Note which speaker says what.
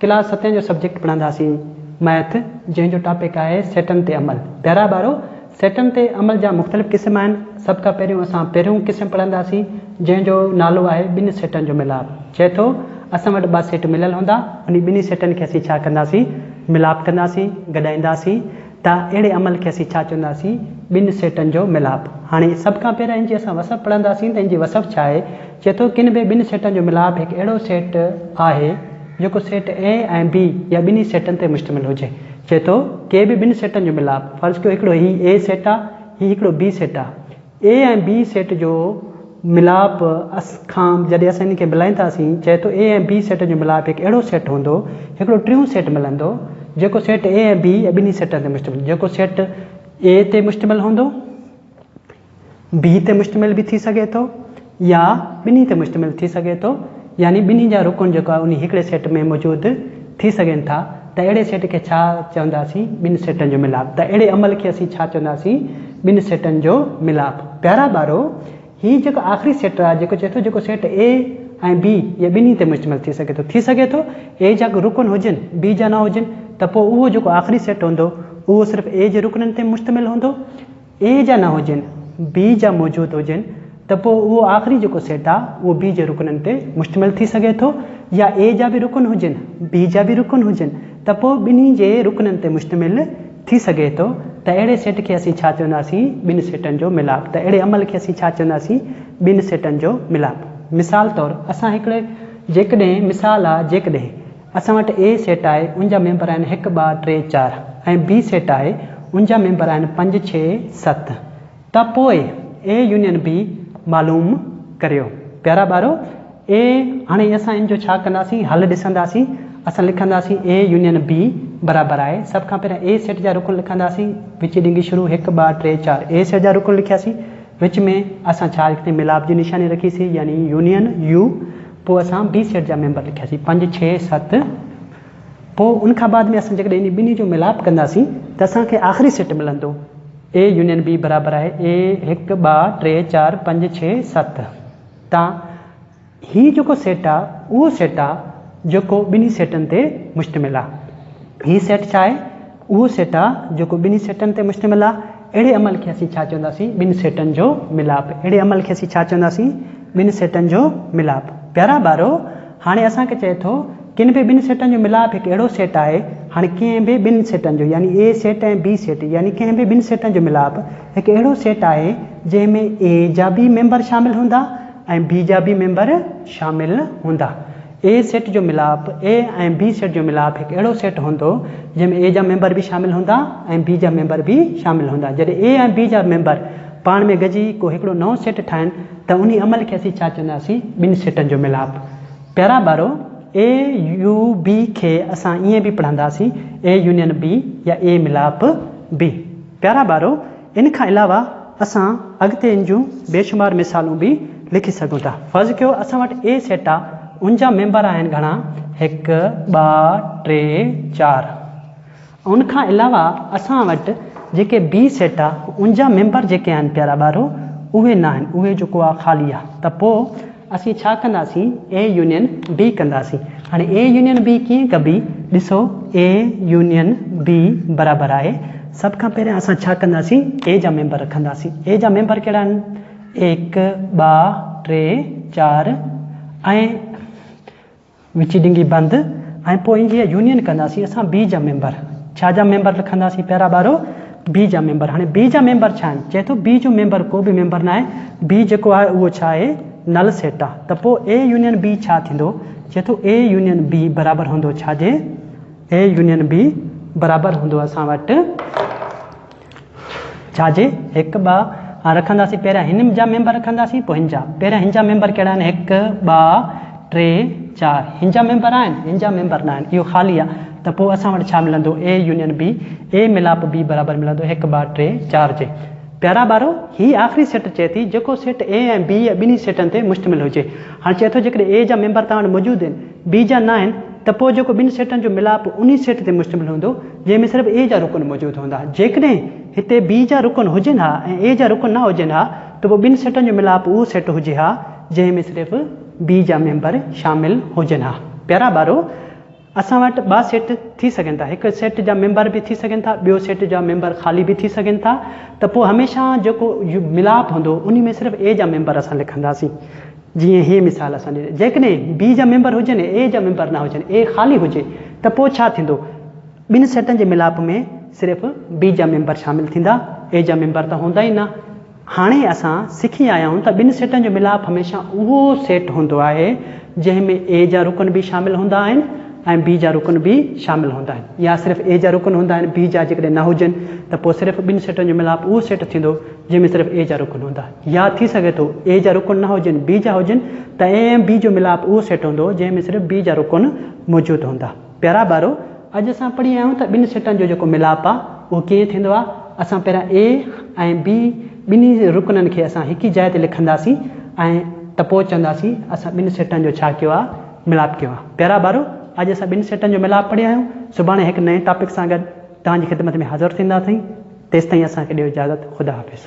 Speaker 1: Class ستين جو subject پڙهنداسين ميٿ جنهن جو ٽاپڪ آهي سيٽن تي عمل. پيارا ٻارو سيٽن تي عمل جا مختلف قسم آهن سڀ کان پهريون اسان پهريون قسم پڙهنداسين جنهن جو نالو آهي ٻن سيٽن جو ملاپ چئي ٿو اسان وٽ ٻه سيٽ مليل هوندا انهي ٻنهي سيٽن کي اسين ڇا ڪنداسين ملاپ ڪنداسين گڏائينداسين ته اهڙي عمل کي اسين ڇا چونداسين؟ ٻن سيٽن جو ميلاپ. هاڻي سڀ کان پهريان هن جي اسان وصف پڙهنداسين ته هن جي وصف ڇا آهي؟ چئي ٿو ڪن به ٻن سيٽن جو ميلاپ هڪ اهڙو سيٽ آهي جيڪو سيٽ A ۽ B يا ٻنهي سيٽن تي مشتمل هجي. چئي ٿو ڪي به ٻن سيٽن جو ميلاپ، فرض ڪيو هڪڙو هي A سيٽ آ، هي هڪڙو B سيٽ آ، اي ۽ بي سيٽ جو ملاپ اس کان جڏهن اسان انهن کي ملائينداسين چئي ٿو اي ۽ بي سيٽن جو ملاپ هڪ اهڙو سيٽ هوندو هڪڙو ٽيون سيٽ ملندو جيڪو سيٽ اي ۽ بي ۽ ٻنهي سيٽن تي مشتمل جيڪو سيٽ اي تي مشتمل هوندو بي تي مشتمل به ٿي سگهي ٿو. يا ٻنهي تي مشتمل ٿي سگهي ٿو، يعني ٻنهي جا رڪن جيڪو آهي انهي هڪڙي سيٽ ۾ موجود ٿي سگهن ٿا ته اهڙي سيٽ کي ڇا چونداسين ٻن سيٽن جو ملاپ ته اهڙي عمل کي اسين ڇا چونداسين ٻن سيٽن جو ملاپ پيارا ٻارو هي جيڪو آخري سيٽ آهي جيڪو چئي ٿو جيڪو سيٽ A ۽ B يا ٻنهي تي مشتمل ٿي سگهي ٿو ٿي سگهي ٿو A جا رڪن هجن B جا نه هجن ته پوء اهو جيڪو آخري سيٽ هوندو اهو صرف A جي رڪنن تي مشتمل هوندو اي جا نه هجن، بي جا موجود هجن ته پوء اهو آخري جيڪو سيٽ آهي اهو بي جي رڪنن تي مشتمل ٿي سگهي ٿو يا اي جا به رڪن هجن، بي جا به رڪن هجن ته پوء ٻنهي جي رڪنن تي مشتمل ٿي سگهي ٿو ته اهڙي سيٽ کي اسين ڇا چونداسين؟ ٻن سيٽن جو ميلاپ ته اهڙي عمل کي اسين ڇا چونداسين؟ ٻن سيٽن جو ميلاپ. مثال طور اسان هڪڙي جيڪڏهن مثال آهي جيڪڏهن اسان وٽ اي سيٽ آهي ان جا ميمبر آهن هڪ ٻه ٽي چار ۽ بي سيٽ آهي ان جا ميمبر آهن پنج ڇهه ست ته پوء اي يونين به معلوم ڪريو پيارا ٻارو اي هاڻي اسان ان جو ڇا ڪنداسين حل ڏسنداسين اسان لکنداسين اي يونين بي برابر آهي سڀ کان پهريان اي سيٽ جا رڪن لکنداسين وچي ڏنگي شروع هڪ ٻه ٽي چار اي سيٽ جا رڪن لکياسين وچ ۾ اسان ڇا لکنداسين ملاپ جي نشاني رکيسين يعني يونين يو پوء اسان بي سيٽ جا ميمبر لکياسين پنج، ڇهه، ست پوء ان کان بعد ۾ اسان جيڪڏهن انهي ٻنهي جو ميلاپ ڪنداسين ته اسان کي آخري سيٽ ملندو اي يونين بي برابر آهي اي هڪ ٻه ٽي چار پنج ڇهه ست تان هي جيڪو سيٽ آ اهو سيٽ آ جيڪو ٻنهي سيٽن تي مشتمل آ هي سيٽ ڇا آهي؟ اهو سيٽ آ جيڪو ٻنهي سيٽن تي مشتمل آ. اهڙي عمل کي اسين ڇا چونداسين؟ ٻن سيٽن جو ملاپ. اهڙي عمل کي اسين ڇا چونداسين؟ ٻن سيٽن جو ملاپ. پيارا ٻارو! هاڻي اسان کي چئي ٿو، ڪن به ٻن سيٽن جو ملاپ هڪ اهڙو سيٽ آهي. هاڻي ڪنهن به ٻن سيٽن جو يعني اي سيٽ ۽ بي سيٽ يعني ڪنهن به ٻن سيٽن جو ملاپ هڪ اهڙو سيٽ آهي جنهن ۾ اي جا به ميمبر شامل هوندا ۽ بي جا به ميمبر شامل هوندا. اي سيٽ جو ميلاپ، اي ۽ بي سيٽ جو ميلاپ هڪ اهڙو سيٽ هوندو جنهن ۾ اي جا ميمبر به شامل هوندا ۽ بي جا ميمبر به شامل هوندا. جڏهن اي ۽ بي جا ميمبر پاڻ ۾ گڏجي ڪو هڪڙو نئون سيٽ ٺاهن ته انهي عمل کي اسين ڇا چونداسين؟ ٻن سيٽن جو ميلاپ. پيارا ٻارو! اي يو بي کي اسان ائين به پڙهنداسين، اي يونين بي يا اي ميلاپ بي. پيارا ٻارو! ان کان علاوه اسان اڳتي ان جون بيشمار مثالون به لکي سگهون ٿا. فرض ڪيو اسان وٽ اي سيٽ آ، ان جا ميمبر آهن گهڻا، هڪ، ٻه، ٽي، چار. ان کان علاوه اسان وٽ جيڪي بي سيٽ آ، ان جا ميمبر جيڪي آهن پيارا ٻارو، اهي ناهن، اهي جيڪو آ خالي آ، ته پوء. اسين ڇا ڪنداسين اي يونين بي ڪنداسين هاڻي اي يونين بي ڪيئن ڪبي ڏسو اي يونين بي برابر آهي سڀ کان پهريان اسان ڇا ڪنداسين اي جا ميمبر رکنداسين اي جا ميمبر ڪهڙا آهن هڪ ٻا ٽي چار ۽ وچي ڊنگي بند ۽ پوء انجي يا يونين ڪنداسين اسان بي جا ميمبر ڇا جا ميمبر لکنداسين پيارا ٻارو بي جا ميمبر هاڻي بي جا ميمبر ڇا آهن چئي ٿو بي جو ميمبر ڪو به ميمبر ناهي بي جيڪو آهي اهو ڇا آهي نل سيٽ آ ته پوء اي يونين بي ڇا ٿيندو چئي ٿو اي يونين بي برابر هوندو ڇا جي اي يونين بي برابر هوندو اسان وٽ ڇا جي هڪ ٻه ها رکنداسين پهريان هن جا ميمبر رکنداسين پوء هن جا پهريان هن جا ميمبر ڪهڙا آهن هڪ ٻه ٽي چار هن جا ميمبر آهن هن جا ميمبر ناهن اهو خالي آهي ته پوء اسان وٽ ڇا ملندو اي يونين بي اي ميلاپ بي برابر ملندو هڪ ٻه ٽي چار جي پيارا ٻارو هي آخري سيٽ چئي ٿي جيڪو سيٽ اي ۽ بي ٻنهي سيٽن تي مشتمل هجي هاڻ چئي ٿو جيڪڏهن اي جا ميمبر توهان وٽ موجود آهن بي جا ناهن ته پوء جيڪو ٻن سيٽن جو ملاپ انهي سيٽ تي مشتمل هوندو جنهن ۾ صرف اي جا رڪن موجود هوندا. جيڪڏهن هتي بي جا رڪن هجن ها ۽ اي جا رڪن نه هجن ها ته پوء ٻن سيٽن جو ملاپ اهو سيٽ هجي ها جنهن ۾ صرف بي جا ميمبر شامل هجن ها. پيارا ٻارو! اسان وٽ ٻا سيٽ ٿي سگهن ٿا. هڪ سيٽ جا ميمبر به ٿي سگهن ٿا ٻيو سيٽ جا ميمبر خالي به ٿي سگهن ٿا ته پوء هميشه جيڪو ملاپ هوندو انهي ۾ صرف اي جا ميمبر اسان لکنداسين. جيئن هي مثال اسان ڏنو. جيڪڏهن بي جا ميمبر هجن ۽ اي جا ميمبر نه هجن، اي خالي هجي، ته پوء ڇا ٿيندو؟ ٻن سيٽن جي ميلاپ ۾ صرف بي جا ميمبر شامل ٿيندا، اي جا ميمبر ته هوندا ئي نه. هاڻي اسان سکي آيا آهيون ته ٻن سيٽن جو ميلاپ هميشه اهو سيٽ هوندو آهي، جنهن ۾ اي جا رڪن به شامل هوندا آهن ۽ بي جا رڪن به شامل هوندا آهن. يا صرف اي جا رڪن هوندا آهن، بي جا جيڪڏهن نه هجن، ته پوء صرف ٻن سيٽن جو ميلاپ اهو سيٽ ٿيندو، جنهن ۾ صرف اي جا رڪن هوندا. يا ٿي سگهي ٿو اي جا رڪن نه هجن بي جا هجن ته اي ۽ بي جو ملاپ اهو سيٽ هوندو جنهن ۾ صرف بي جا رڪن موجود هوندا. پيارا ٻارو اڄ اسان پڙهي آيا آهيون ته ٻن سيٽن جو جيڪو ملاپ آهي اهو ڪيئن ٿيندو آهي. اسان پهريان اي ۽ بي ٻنهي رڪنن کي اسان هڪ ئي جاء تي لکنداسين ۽ ته پوء چونداسين اسان ٻن سيٽن جو ڇا ڪيو آهي ملاپ ڪيو آهي. پيارا ٻارو اڄ اسان ٻن سيٽن جو ملاپ پڙهي آيا آهيون سڀاڻي هڪ نئين ٽاپڪ سان گڏ توهان جي خدمت ۾ حاضر ٿيندا سين. تيستائين اسان کي ڏيو اجازت خدا حافظ.